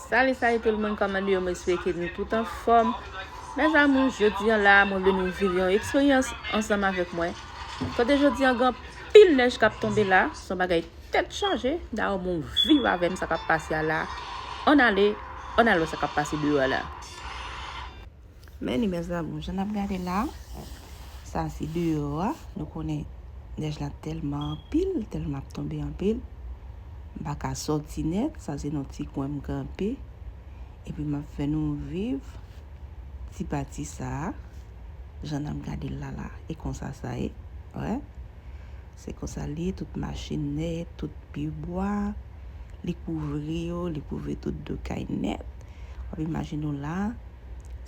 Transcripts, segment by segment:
Salut salut tout moun kòman nou ye mwen swete nou tout an fòm Mes amours jodi an la mwen vle nou viv yon eksperyans ansanm avèk mwen Kote jodi an gan pil nèj kap tonbe la son bagay tèt chaje Dayò moun viv avèm sa kap pase a la An ale an al wè sa kap pase deyò a la. Men li mes amours jan nap gade la sa se deyò a nou konnen nèj la tèlman anpil tèlman ap tonbe anpil m pa ka sòti nèt sa se nan ti kwen m kanpe epi map fè nou viv ti pati sa jan nap gade l la la e konsa sa ye wè se konsa li ye tout machin nèt tout pi bwa li kouvri yo li kouvri tout do kay nèt wap imajine w la.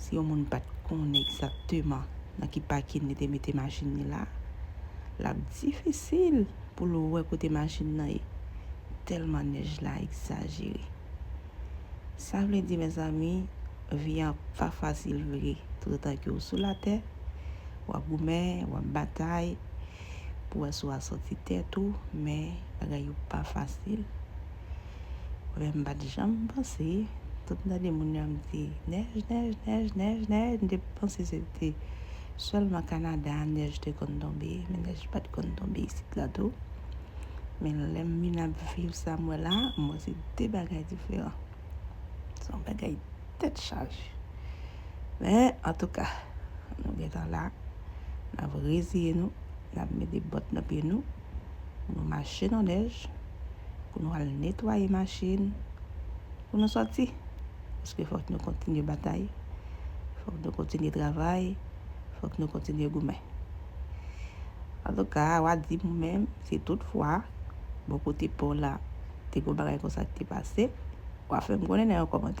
Si yon moun pat konnen egzakteman nan ki pakin li te mete machin li la, l ap difisil pou l wè kote machin nan ye, tèlman nèj la egzajere. Sa vle di mezanmi, vi an pa fasil vre toutotan ke w sou latè, w ap goumen, w ap batay pou wè si w a sòti tèt ou, men bagay yo pa fasil. Vre m pat janm panse, tout m tande moun yo ap di nèj nèj nèj nèj nèj m te panse se te sèlman Canada nèj te konn tonbe men nèj pat konn tonbe isit la tou men lè m vin ap viv sa m wè la m wè se 2 bagay diferan se yon bagay tèt chaje men antouka nou gentan la n ap reziye nou n ap mete bòt nan pye nou pou nou mache nan nèj, pou nou al netwaye machin, pou nou sòti. Paske fòk nou kontinye batay, fòk nou kontinye travay, fòk nou kontinye goumen. Antouka, wa di m ou menm, si tout fwa, bò kote pa w la, te gen yon bagay konsa ki te pase, wa fè m konnen nan yon kòmantè.